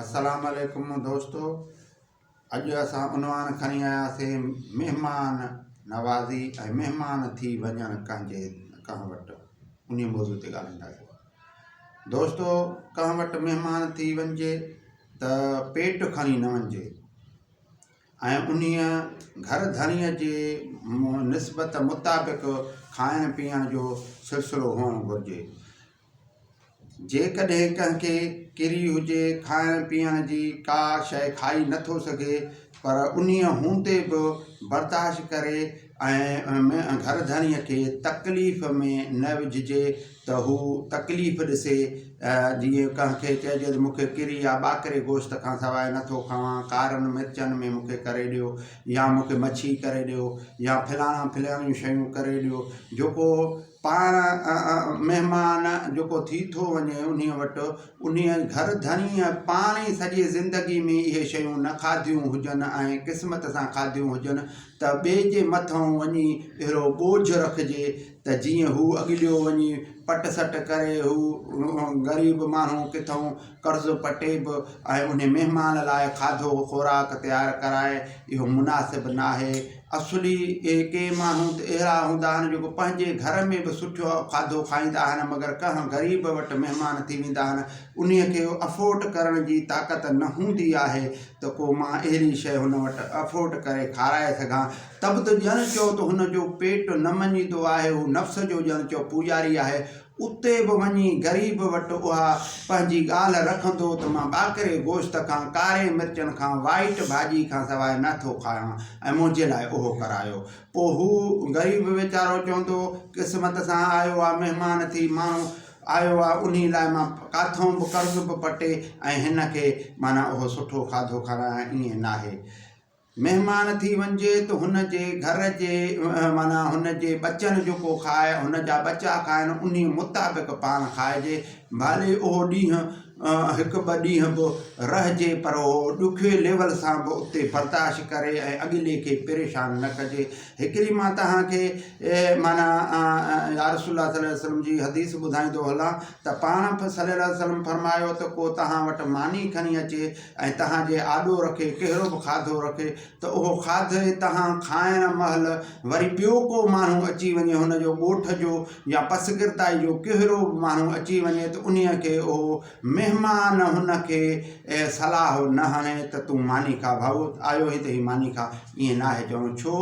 السلام عليڪم دوستو اڄ اسان عنوان کڻي آياسين مهمان نوازي ۽ مهمان ٿي وڃڻ ڪنهن جي ڪنهن وٽ انهي موضوع تي ڳالهائينداسين دوستو ڪنهن وٽ مهمان ٿي وڃجي ته پيٽ کڻي نه وڃجي ۽ انهي گهر ڌڻيء جي نسبت مطابق کائڻ پيئڻ جو سلسلو هئڻ گهرجي جيڪڏهن ڪنهن کي ڪري هجي کائڻ پيئڻ جي ڪا شيء کائي نه ٿو سگهي پر انهيء هوندي به برداشت ڪري ۽ گهر ڌڻيء کي تڪليف ۾ نه وجهجي ته هو تڪليف ڏسي جيئن ڪنهن کي چئجي ته مون کي ڪري يا ٻاڪري گوشت کان سواء نه ٿو کاوان ڪارن مرچن ۾ مون کي ڪري ڏيو يا مون کي مڇي ڪري ڏيو يا فلاڻا فلاڻيون شيون ڪري ڏيو جيڪو پاڻ مهمان جيڪو ٿي ٿو وڃي انهيء وٽ انهيء گهر ڌڻيء پاڻ ئي سڄي زندگيء ۾ اهي شيون نه کاڌيون هجن ۽ قسمت سان کاڌيون هجن ته ٻئي جي مٿئون وڃي اهڙو ٻوجهه رکجي ته جيئن هو اڳليو وڃي پٽ سٽ ڪري هو غريب ماڻهو ڪٿئون قرض پٽي به ۽ انهي مهمان لاء کاڌو خوراڪ تيار ڪرائي اهو مناسب ناهي اصلي اهي ڪي ماڻهو ته اهڙا هوندا آهن جيڪو پنهنجي گهر ۾ به سٺو کاڌو کائيندا آهن مگر ڪنهن غريب وٽ مهمان ٿي ويندا آهن انهي کي افورٽ ڪرڻ جي طاقت نه هوندي آهي ته ڪو مان اهڙي شئي هن وٽ افورٽ ڪري کارائي سگهان تب ته ڄڻ چئو ته هن جو پيٽ نه مڃيندو آهي هو نفس جو ڄڻ چئو پوڄاري آهي اتي به وڃي غريب وٽ اها پنهنجي ڳالهه رکندو ته مان ٻاڪري گوشت کان ڪاري مرچن کان وائيٽ ڀاڄي کان سواء نه ٿو کايان ۽ منهنجي لاء اهو ڪرايو. پوء هو غريب ويچارو چوندو، قسمت سان آيو آ مهمان ٿي ماڻهو آيو آ انهي لاء مان ڪاٿئون به قرض به پٽي ۽ هن کي معنيٰ اهو سٺو کاڌو کارايان ائين ناهي. مهمان ٿي وڃجي ته هن جي گهر جي معنيٰ هن جي ٻچن جو ڪو کائي هن جا ٻچا کائن انهي مطابق پاڻ کائجي ڀلي اهو ڏينهن هڪ ٻه ڏينهن به رهجي پر اهو ڏکي ليول سان به اتي برداشت ڪري ۽ اڳلي کي پريشان نه ڪجي هڪڙي مان توهان کي معنيٰ يارسول الله صلي وسلم جي حديث ٻڌائيندو هلان ته پاڻ صلي الله وسلم فرمايو ته ڪو توهان وٽ ماني کڻي اچي ۽ توهان جي آڏو رکي ڪهڙو به کاڌو رکي ته اهو کاڌي توهان کائڻ مهل وري ٻيو ڪو ماڻهو اچي وڃي هن جو ڳوٺ جو يا پسگردائي جو ڪهڙو به ماڻهو اچي وڃي ته انهي کي اهو مهمان هن کي صلاح نه هڻي ته تون ماني کا ڀائو آيو هين ته هي ماني کا ائين ناهي چوڻو ڇو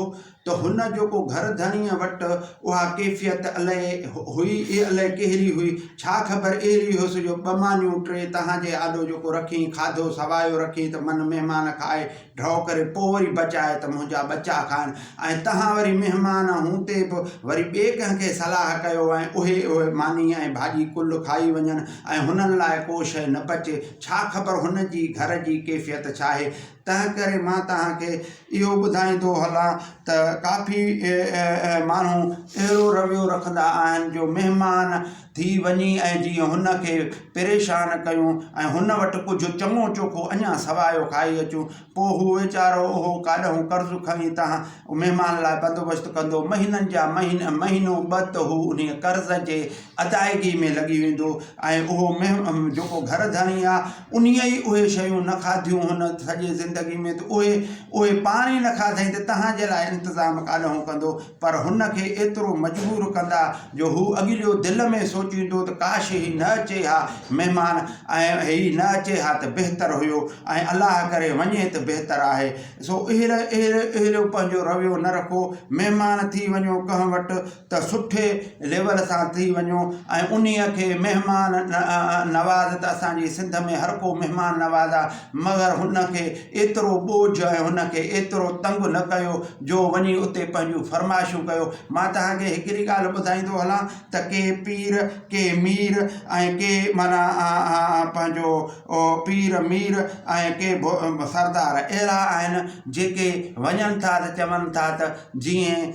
ته هن جو ڪو گهر ڌڻيء وٽ اها ڪيفيت الئي هئي ئي الئي ڪهڙي هئي، ڇا خبر اهڙي هيس جو ٻه مانيون ٽي تهان جي آڏو جيڪو رکين کاڌو سوايو رکين ته من مهمان کائي ڍؤ ڪري پوء وري بچائي ته منهنجا ٻچا کائن ۽ تهان وري مهمان هون تي به وري ٻئي ڪنهن کي صلاح ڪيو ۽ اهي اهي ماني ۽ ڀاڄي ڪل کائي وڃن ۽ هنن لاء ڪو شيء نه بچي ڇا خبر هن جي گهر جي ڪيفيت ڇاهي تنهنڪري مان توهان کي اهو ٻڌائيندو هلان ته ڪافي ماڻهو اهڙو رويو رکندا آهن جو مهمان ٿي وڃي ۽ جيئن هن کي پريشان ڪيون ۽ هن وٽ ڪجهه چڱو چوکو اڃا سوايو کائي اچون پوء هو ويچارو اهو ڪاڏهون قرض کڻي توهان مهمان لاء بندوبست ڪندو مهينن جا مهينو ٻه ته هو انهيء قرض جي ادائگي ۾ لڳي ويندو ۽ اهو مهم جيڪو گهر ڌڻي آ انهيء ئي اهي شيون نه کاڌيون هن سڄي زندگي ۾ ته اهي اهي پاڻ ئي نه کاڌئين ته تنهان جي لاء انتظام ڪاڏانهون ڪندو پر هن کي ايترو مجبور ڪندا جو هو اڳليو دل ۾ سوچيندو ته ڪاش هي نه اچي ها مهمان ۽ هي نه اچي ها ته بهتر هيو ۽ الله ڪري وڃي ته بهتر آهي سو اهڙي اهڙي اهڙيو پنهنجو رويو نه رکو مهمان ٿي وڃو ڪنهن وٽ ته سٺي ليول سان ٿي وڃو ۽ انهي کي مهمان نواز ته اسان جي سنڌ ۾ هر ڪو مهمان نواز آ مگر هن کي ايترو ٻوجهه ۽ هن کي ايترو تنگ نه ڪيو جو وڃي اتي پنهنجون فرمائشون ڪيو مان توهان کي هڪڙي ڳالهه ٻڌائيندو هلان ته ڪي پير ڪي مير ۽ ڪي معنيٰ پنهنجو پير مير ۽ ڪي سردار اهڙا آهن جيڪي وڃن ٿا ته چون ٿا ته جيئن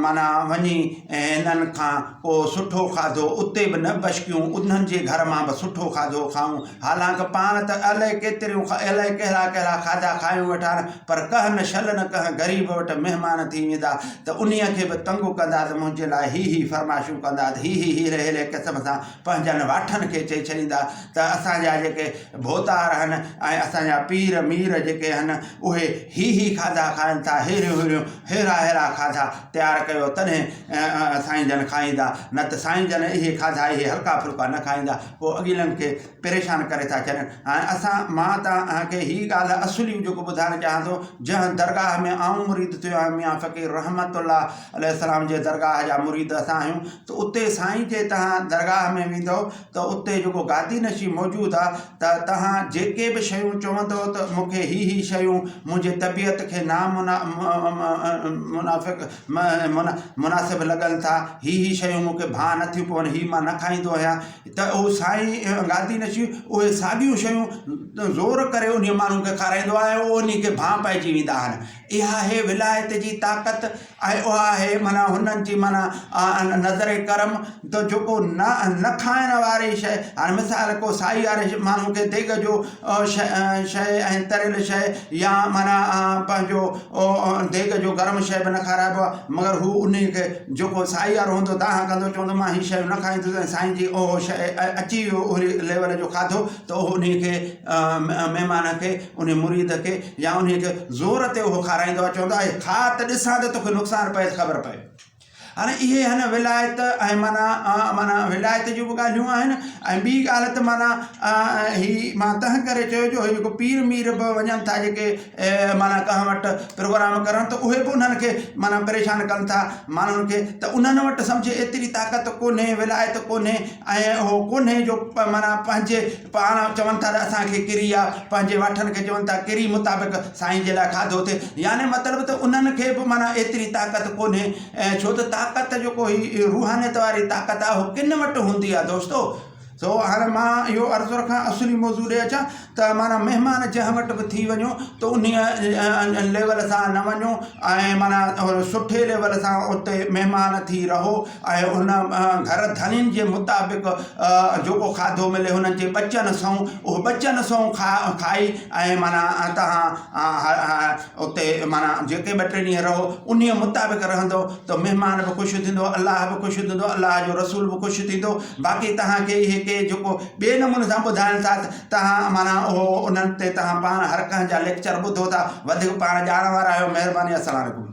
معنيٰ وڃي هنن کان ڪو سٺو کاڌو اتي به نه بشڪيون انهن جي گهر مان به سٺو کاڌو کائون حالانڪ پاڻ ته الائي ڪيتريون الائي ڪهڙا ڪهڙا کاڌا کايون وٺان پر ڪهن نه شل نه ڪهن غريب وٽ مهمان ٿي ويندا ته انهيء کي به تنگ ڪندا ته منهنجي لاء هي هي فرمائشون ڪندا ته هي هي هيري هيري قسم سان پنهنجن واٺن کي چئي ڇڏيندا ته اسان جا جيڪي ڀوتار آهن ۽ اسان جا پير مير جيڪي آهن اهي هي هي کاڌا کائن ٿا ههريون ههريون ههرا ههرا کاڌا تيار ڪيو تڏهن سائين جن کائيندا نه ته سائين جن اهي کاڌا اهي هلڪا ڦلڪا نه کائيندا پوء اڳيلن کي پريشان ڪري ٿا ڇڏين هاڻي اسان مان توهان کي هي ڳالهه اصلي جيڪو ٻڌائڻ چاهيان ٿو جنهن درگاهه ۾ آئون مريد ٿيو آهيان ميان فقير رحمت الله عليه السلام جي درگاهه جا مريد اسان آهيون ته اتي سائين جي تهان درگاهه ۾ ويندؤ ته اتي جيڪو گادي نشين موجود آ ته تهان جيڪي به شيون چوندؤ ته مون کي هي هي شيون منهنجي طبيعت کي نا منافق مناسب لڳن ٿا هي هي شيون مون کي ڀانء نٿيون پون هي مان نه کائيندو آهيان ته هو سائين گادي نشين اهي ساڳيون شيون زور ڪري انهي ماڻهو کي کارائيندو آهي ۽ انهي کي ڀانء پئجي ويندا آهن اها آهي ولايت جي طاقت ۽ اها آهي معنيٰ هنن جي معنيٰ نظر ڪرم ته جيڪو نه نه کائڻ واري شيء هاڻي مثال ڪو سائي واري ماڻهو کي ديڳ جو شيء شيء ۽ تريل شيء يا معنيٰ پنهنجو ديڳ جو گرم شيء به نه کارائبو آهي مگر هو ان ئي کي جيڪو سائي وارو هوندو دانهن ڪندو چوندو مان هي شيون نه کائيندس ۽ سائين جي اهو شيء اچي ويو اهڙي ليول جو کاڌو ته اهو ان کي مهمان کي انهيء مريد کي يا انهيء کي زور تي اهو کارائيندو آهي، چوندو آهي، کاء ته ڏسان ته توکي نقصان پئي ته خبر پئي. هاڻي اهي هن ولايت ۽ معنيٰ معنيٰ ولايت جون به ڳالهيون آهن ۽ ٻي ڳالهه ته معنيٰ هي مان تنهن ڪري چيو جو هي جيڪو پير مير به وڃن ٿا جيڪي معنيٰ ڪنهن وٽ پروگرام ڪرڻ ته اهي به انهن کي معنيٰ پريشان ڪن ٿا ماڻهن کي ته انهن وٽ سمجهه ايتري طاقت ڪونهي ولايت ڪونهي ۽ اهو ڪونهي جو معنيٰ پنهنجي پاڻ چون ٿا ته اسان کي ڪري آ، پنهنجي واٺن کي چون ٿا ڪري مطابق سائين جي لاء کاڌو ٿئي، يعني مطلب ته انهن کي به معنيٰ ايتري طاقت ڪونهي، ڇو ته طاقت جيڪو هي روحانيت واري طاقت آ اهو ڪن وٽ هوندي آ دوستو. سو هاڻ مان اهو عرض رکان اصلي موضوع ڏي اچان ته معنيٰ مهمان جنهن وٽ به ٿي وڃو ته انهيء ليول سان نه وڃو ۽ معنيٰ سٺي ليول سان اتي مهمان ٿي رهو، ۽ ان گهر ڌڻين جي مطابق جيڪو کاڌو ملي هنن جي ٻچن سئون اهو ٻچن سئون کا کائي ۽ معنيٰ تهان اتي معنيٰ جيڪي ٻه ٽي ڏينهن رهو انهيء مطابق رهندو ته مهمان به خوش ٿيندو الله به خوش ٿيندو الله جو رسول به خوش ٿيندو باقي تهان کي اهي ڪي جيڪو ٻئي نموني سان ٻڌائن ٿا ته تهان معنيٰ اهو انهن تي تهان پاڻ هر ڪنهن جا ليڪچر ٻڌو ٿا وڌيڪ پاڻ ڄاڻ وارا آهيو مهرباني السلام عليڪم